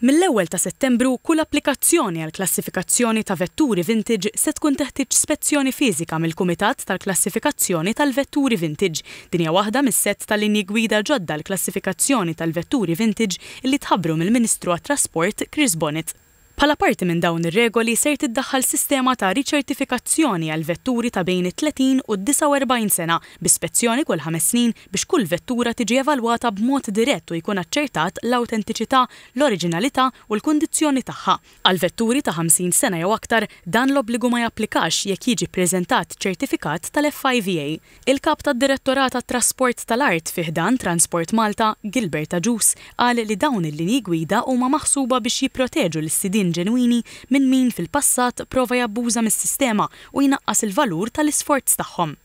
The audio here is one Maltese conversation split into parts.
Mill-ewwel ta' Settembru, kull applikazzjoni għall-klassifikazzjoni ta' vetturi vintage se tkun teħtieġ spezzjoni fiżika mill-Kumitat tal-Klassifikazzjoni tal-Vetturi Vintage. Din hija waħda mis-sett ta' linji gwida ġodda għall-klassifikazzjoni tal-vetturi vintage li tħabbru mill-Ministru għat-Trasport, Chris Bonnet. Bħala parti minn dawn ir-regoli ser tiddaħħal sistema ta' riċertifikazzjoni għall-vetturi ta' bejn it-30 u d-49 sena, bi spezzjoni kull ħames snin, biex kull vettura tiġi evalwata b'mod dirett u jkun aċċertat l-awtentiċità, l-oriġinalità u l-kundizzjoni tagħha. Għal vetturi ta' 50 sena jew aktar, dan l-obbligu ma japplikax jekk jiġi ppreżentat ċertifikat tal-FIVA. Il-Kap tad-Direttorat għat-Trasport tal-Art fi ħdan Transport Malta, Gilbert Agius, qal li dawn il-linji gwida huma maħsuba biex jipproteġu lis-sidien ġenwini minn min fil-passat prova jabbuża mis-sistema u jnaqqas il-valur tal-isforz tagħhom.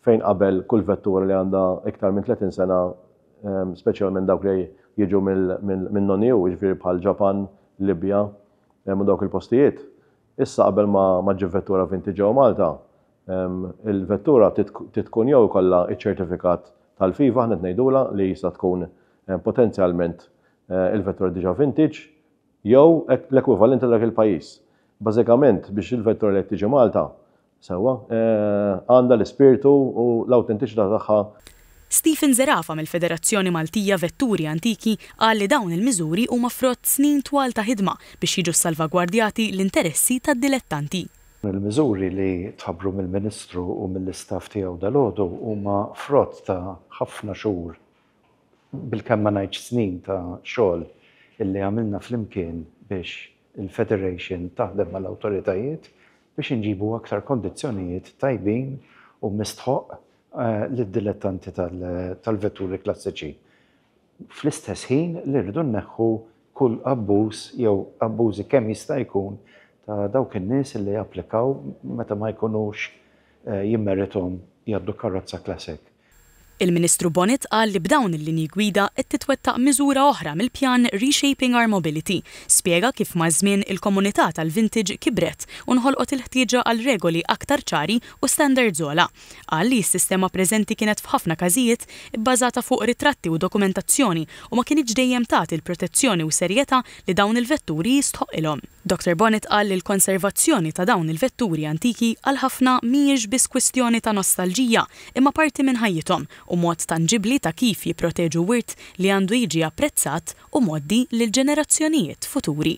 fejn qabel kull vettura li għandha iktar minn 30 sena, speċjalment dawk li jiġu minn non EU, jiġifieri bħal Ġapan, Libja u dawk il-postijiet, issa qabel ma ġġib vettura vintage ġewwa Malta, il-vettura trid tkun jew ikollha ċ-ċertifikat tal-FIFA, aħna qed ngħidulha li jista' tkun potenzjalment il-vettura diġà vintage jew l-ekwivalent ta' dak il-pajjiż. Bażikament biex il-vettura li qed tiġi Malta Sewwa, għandha l-ispirtu u l-awtentiċità tagħha. Stephen Zerafa mill-Federazzjoni Maltija Vetturi Antiki qal li dawn il-miżuri huma frott snin twal ta' ħidma biex jiġu ssalvagwardjati l-interessi tad-dilettanti. Il-miżuri li tħabbru mill-Ministru u mill-istaff tiegħu dalgħodu huma frott ta' ħafna xhur, bilkemm ma ngħidx snin ta' xogħol li għamilna flimkien biex, Il-Federation taħdem mal-awtoritajiet biex inġibu aktar kondizzjonijiet tajbin u mistħoqq lid-dilettanti tal-vetturi klassiċi, fl-istess ħin li rridu nneħħu kull abbuż jew abbużi kemm jista' jkun ta' dawk in-nies li japplikaw meta ma jkunux jimmerithom jgħaddu karrozza classic. Il-Ministru Bonett qal li b'dawn il-linji gwida qed titwettaq miżura oħra mill-pjan Reshaping Our Mobility. Spjega kif maż-żmien il-komunità tal-vintage kibret u nħolqot il-ħtieġa għal regoli aktar ċari u standards ogħla. Qal li s-sistema preżenti kienet f'ħafna każijiet ibbażata fuq ritratti u dokumentazzjoni u ma kinitx dejjem tagħti l-protezzjoni u serjetà li dawn il-vetturi jistħoqqilhom. Doctor Bonett qal li l-konservazzjoni ta' dawn il-vetturi antiki għal ħafna mhijiex biss kwistjoni ta' nostalġija imma parti minn ħajjithom u mod tanġibbli ta' kif jipproteġu wirt li għandu jiġi apprezzat u mgħoddi lill-ġenerazzjonijiet futuri.